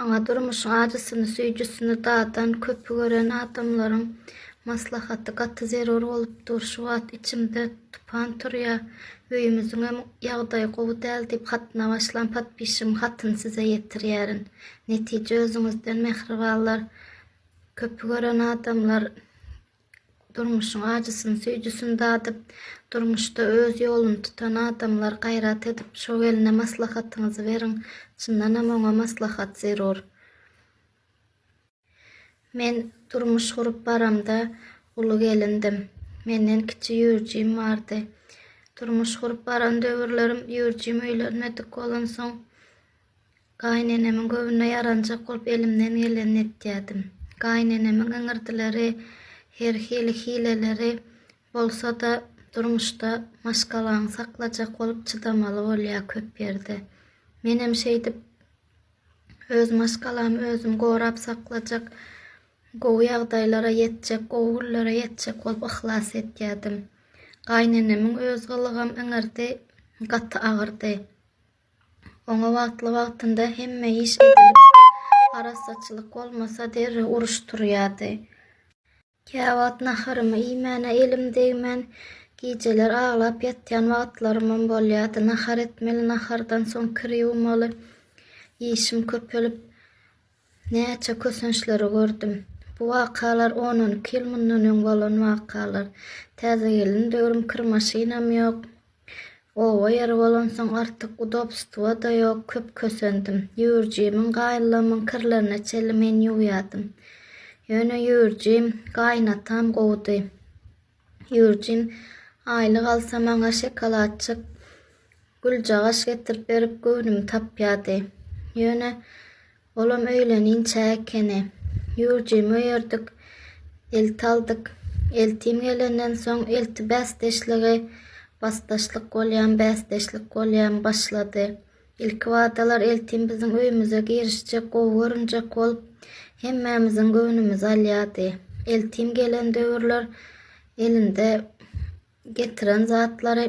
Aňa durmuşyň ajysyny, süýjüsini dadan, köpi gören adamlaryň maslahaty gaty zerur bolup dur. Şu wagt içimde tupan turýar. Öýümiziňem ýagdaýy gowy däl diýip hatyna başlan podpişigiň hatyny size ýetirýärin. Netije özüňizden mähribanlar. Köpi gören adamlar Durmuşyň ajysyny, süýjüsini dadyp, durmuşda öz ýoluny tutan adamlar gaýrat edip, şo gelne maslahatyňyzy beriň. Çyndanam oňa maslahat zerur. Men durmuş gurup baramda uly gelindim. Menden kiçi Ýurjim bardy. Durmuş gurup baran döwürlerim Ýurjim öýlenmedik bolansoň, Gaýynenemiň göwnüne ýaranjak bolup elimden gelenini etýärdim. Gaýynenemiň iňirdileri, her hili hileleri bolsa-da, durmuşda maşgalaňy saklajak bolup çydamaly bolýar köp ýerde. Menem şeýdip, öz maşgalamy özüm gorap saklajak, gowy ýagdaýlara ýetjek, gowy günlere ýetjek bolup yhlas etýärdim. Gaýynenemiň öz gylygam iňirdi gaty agyrdy. Oňa wagtly-wagtynda hemme iş edilip, arassaçylyk bolmasa, derrew uruş turýardy. Käwagt naharymy iýmäne elim degmän, gijeler aglap ýatýan wagtlarymam bolýardy. Nahar etmeli, nahardan soň kir ýuwmaly. Işim köpelip, Näçe kösençleri gördüm. Bu wakalar on-on iki ýyl mundan öň bolan wakalar. Täze gelin döwrüm kir maşynam ýok. Oba ýeri bolansoň artyk udobstwo-da ýok. Köp kösendim. Ýüwürjimiň, gaýynlamyň kirlerine çenli men ýuwýardym. Ýöne ýüwürjim, gaýynatam gowudy. Jürjin, Aýlyk alsa maňa şokoladjyk, güljagaş getirip berip göwnümi tapýardy. Ýöne, olam öýleninçä ekeni. Jürjimi öýerdik, elti aldyk. Eltim gelenden soň elti bäsdeşligi, basdaşlyk bolýan, bäsdeşlik bolýan, başlady. Ilkibadalar eltim biziň öýümize girişjek, gowy görünjek bolup, hemmämiziň göwnümizi alýardy. Eltim gelen döwürler elinde getiren zatlary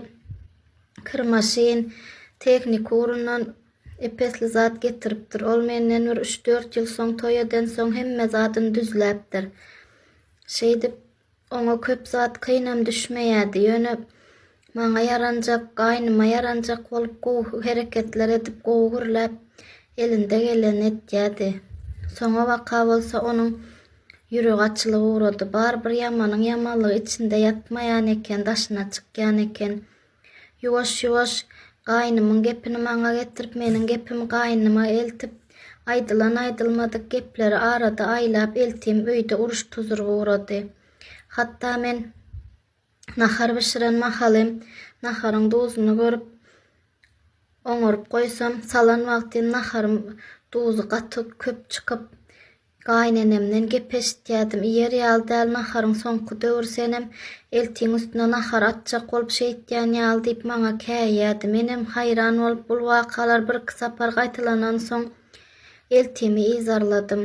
kir maşyn, tehniki ugrundan ep-esli zat getiripdir. Ol menden bir üç-dört ýyl soň toý edensoň hemme zadyny düzläpdir. Şeýdip, Oňa köp zat kynam düşmeýärdi, ýöne maňa ýaranjak, gaýnyma ýaranjak bolup gowy hereketler edip, gowy gürläp, elinde gelenini etýärdi. Soňabaka bolsa onuň ýüregi açylyp ugrady. Barybir ýamanyň ýamanlygy içinde ýatmaýan eken, daşyna çykýan eken. Ýuwaş-ýuwaş gaýnymyň gepini maňa getirip, meniň gepimi gaýnyma eltip, aýdylan-aýdylmadyk gepleri arada aýlap, eltim öýde uruş-tuzuryk ugrady. Hatda men nahar bişiren mahalym, naharyň duzuny görüp, oňaryp goýsam, salan wagtym naharym duzy gaty köp çykyp, Gaýynenemden gep eşitýädim, iýer ýaly däl naharyň soňky döwri senem eltiň üstüne nahar atjak bolup şeýtýän ýaly diýip maňa käýýärdi. Menem haýran bolup bul wakalar birki sapar gaýtalanansoň eltimi yzarladym.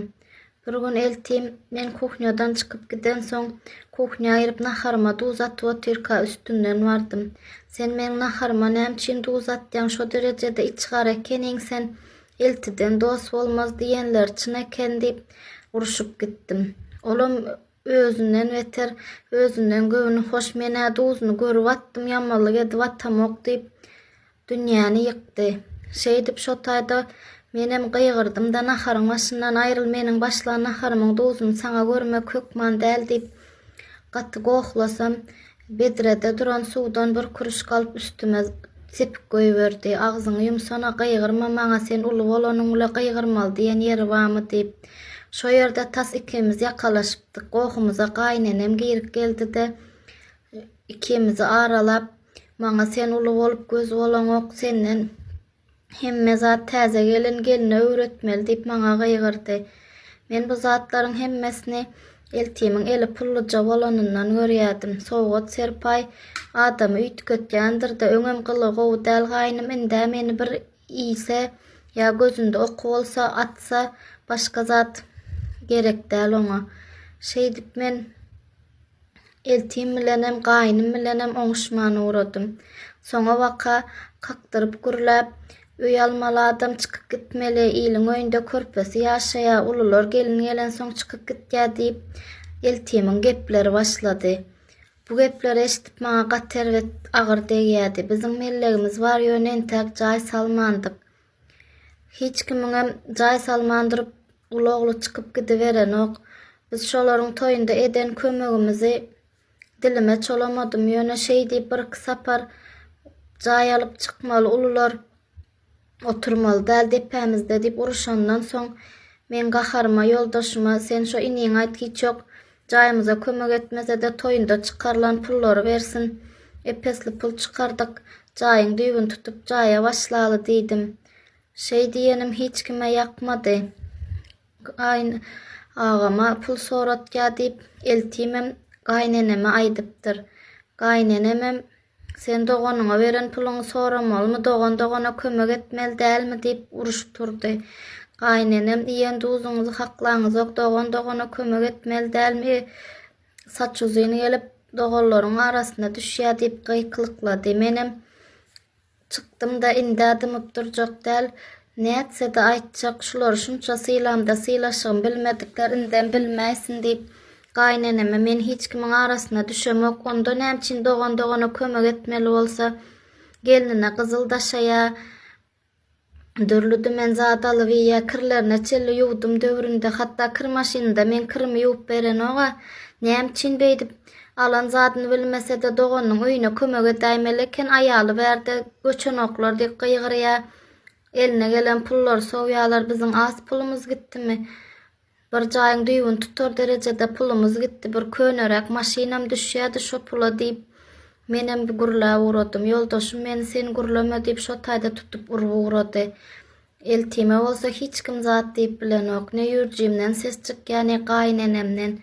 Bir gün eltim men kuhnýadan çykyp gidensoň kuhnýa girip naharyma duz atyp otyrka üstünden bardym. Sen meniň naharyma näme üçin duz atýaň, şo derejede içgara ekeniň sen, Eltiden dost bolmaz diýenler çyn eken diýip, urşup gitdim. Olam özünden beter, özünden göwni hoş, men-ä duzuny görüp atdym, ýamanlyk edip atamok diýip, dünýäni ýykdy. Şeýdip, şo taýda menem gygyrdym-da, naharyň başyndan aýryl, meniň başlan naharymyň duzuny saňa görmek hökman däl diýip, gaty gohlasam, Bedrede duran suwdan bir kürüşik alyp üstüme sepip goýberdi. Agzyňy ýumsana, gygyrma maňa, sen uly bolanyň bile gygyrmaly diýen ýeri barmy diýip. Şo ýerde tas ikimiz ýakalaşypdyk. Gohumyza gaýynenem girip geldi-de, ikimizi aralap, maňa sen uly bolup göz bolaňok, senden Hemme zat täze gelen gelne öwretmeli diýip maňa gygyrdy. Men bu zatlaryň hemmesini eltimiň eli pulluja bolanyndan görýärdim. Sowgat-serpaý adamy üýtgetýändir-de, öňem gylygy gowy däl gaýnym, ind-ä meni bir iýse ýa gözünde oky bolsa, atsa, başga zat gerek däl oňa. Şeýdip men. Eltim bilenem, gaýnym bilenem oňuşman ugradym. Soňabaka kakdyryp gürläp, öý almaly adam çykyp gitmeli, iliň öýünde körpesi ýaşaýar, ulular gelin gelensoň çykyp gitýär diýip, eltimiň gepleri başlady. Bu gepleri eşidip maňa gaty erbet, agyr degýärdi. Biziň mellegimiz bar, ýöne entäk jaý salmandyk. Hiç kimiňem jaý salman durup, Gulogly çykyp gidiberenok. Biz şolaryň toýunda eden kömegimizi dilime çolamadym. Ýöne şeý diýip birki sapar jaý alyp çykmaly ulular, oturmaly däl depämizde diýip uruşandan soň, meň gaharyma ýoldaşyma, Sen şo iniňe aýt, hiç ýok, Jaýymyza kömek etmesede toýunda çykarylan pullary bersin. Epesli pul çykardyk. Jaýyň düýbüni tutup jaýa başlaly diýdim. Şeý diýenim hiç kime ýakmady. Gaýyn agama pul soratýa diýip eltimem gaýyneneme aýdypdyr. Gaýynenemem Sen doganyňa beren puluňy soramalymy, dogan dogana kömek etmeli dälmi diýip uruşyp turdy. Gaýynenem, iýen duzuňyzy haklaňyzok, dogan dogana kömek etmeli dälmi, saç uzyn gelip, doganlaryň arasyna düşýär diýip gykylyklady. Menem. Çykdym-da indä dymyp durjak däl, nätse-de aýtjak, şulary şunça sylamda sylaşygym bilmedikler indem bilmäýsin diýip, gaýyneneme men hiç kimiň arasyna düşemok, onda nämçin dogan dogana kömek etmeli bolsa, gelnine gyzyl daşaýa, dürli-dümen zat alyp iýýä, kirlerine çenli ýuwdum döwründe, hatda kir maşynynda men kirimi ýuwup berenog-a, nämçin beýdip. Alan zadyny bilmese-de doganynyň öýüne kömek edäýmeli eken, aýaly bärde göçenoklar diýip gygyrýar. Eline gelen pullary sowýarlar, biziň az pulumyz gitdimi? Bir jaýyň düýbüni tutar derejede pulumyz gitdi, bir köneräk maşynam düşýärdi şo pula diýip, menem gürläp ugradym. Ýoldaşym meni sen gürleme diýip şo taýda tutup urup ugrady. Eltime bolsa hiç kim zat diýip bilenok. Ne ýürjimden ses çykýar, ne gaýynenemden.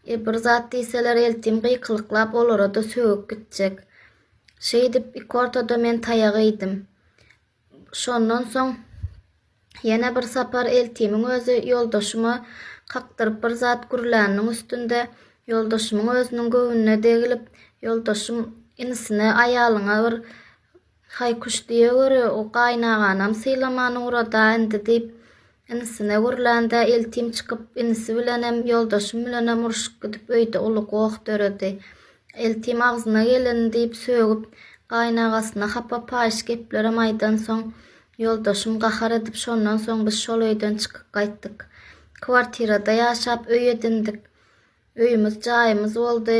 E, bir zat diýseler, eltim gykylyklap olara-da sögüp gitjek. Şeýdip, ikortada men taýak iýdim. Şondan soň ýene bir sapar eltimiň özi ýoldaşyma kakdyryp bir zat gürläniniň üstünde ýoldaşymyň özüniň göwnüne degilip, ýoldaşym inisine aýalyňa bir Haý kuş diýe göre o gaýynaganam sylaman ugrada indi diýip inisine gürlände eltim çykyp inisi bilenem ýoldaşym bilenem uruşyp gidip öýde uly goh döredi. Eltim agzyna geleni diýip sögüp gaýynagasyna hapa paýyş geplerem aýdansoň ýoldaşym gahar edip şondan soň biz şol öýden çykyp gaýtdyk. Kwartirada ýaşap öý edindik. Öýümiz jaýymyz boldy.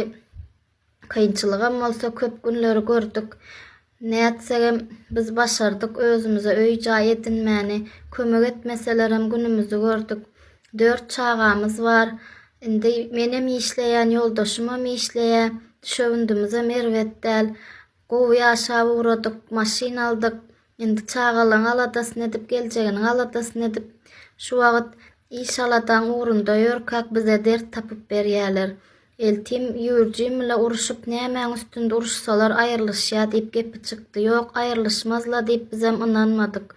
Kynçylygam bolsa köp günleri gördük. Nätsegem biz başardyk özümize öý-jaý edinmäni. Kömek etmeselerem günümizi gördük. Dört çagamyz bar. Indi menem işleýän, ýoldaşymam işleýär. Düşewündimizem erbet däl. Gowy ýaşap ugradyk, maşyn aldyk. Indi çagalaryň aladasyny edip, geljeginiň aladasyny edip, şu wagt iş-aladaň ugrunda ýörkäk bize dert tapyp berýärler. Eltim, Ýur, Jiml-a urşup, nämäň üstünde uruşsalar, aýrylyşýar diýip gepi çykdy. Ýok, aýrylyşmaz-la diýip bizem ynanmadyk.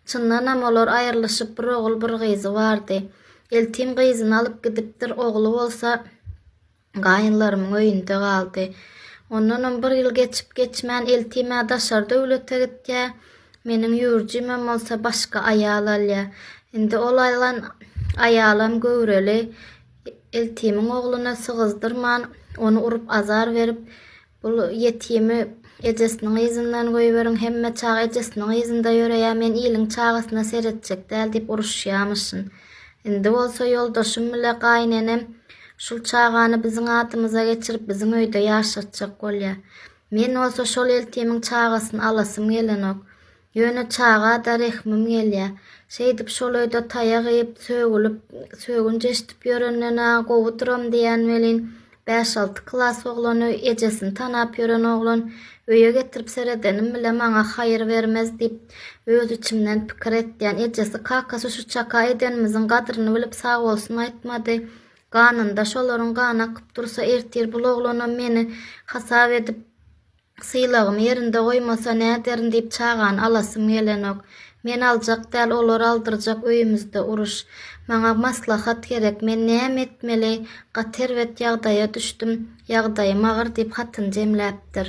Çyndanam, olar aýrylyşyp, bir ogul, bir gyzy bardy. Eltim gyzyny alyp gidipdir, ogly bolsa gaýynlarymyň öýünde galdy. Ondanam bir ýyl geçip-geçmän, Eltim-ä daşary döwlete gitýär, meniň Ýur Jimem bolsa başga aýal alýar. Indi ol alan aýalam göwreli. Iltimiň ogluna sygyzdyrman, ony urup azar berip, Bul ýetimi ejesiniň yzyndan goýberiň, hemme çaga ejesiniň yzynda ýöreýär, men iliň çagasyna seretjek däl diýip uruşýamyşyn. Indi bolsa ýoldaşym bile gaýynenem şul çagany biziň adymyza geçirip, biziň öýde ýaşatjak bolýar. Men bolsa şol iltimiň çagasyny alasym gelenok. Ýöne çaga-da rehmim gelýä. Şeýdip şol öýde taýak iýip, sögülip, sögünç eşdip ýörenden-ä gowudyram diýýän welin, bäş-alty klas oglany, ejesini tanap ýören oglan, öýe getirip seredenim bile maňa haýyr bermez diýip, öz içimden pikir etýän. Ejesi, kakasy şu çaka edenimiziň gadryny bilip sag bolsun aýtmady. Ganynda şolaryň gany akyp dursa, ertir bul oglanam meni hasap edip, Sylagymy ýerinde goýmasa näderin diýip çagany alasym gelenok. Men aljak däl olar aldyrjak öýümizde uruş. Maňa maslahat gerek men näme etmeli gaty erbet ýagdaýa düşdüm ýagdaýym agyr diýip hatyny jemläpdir.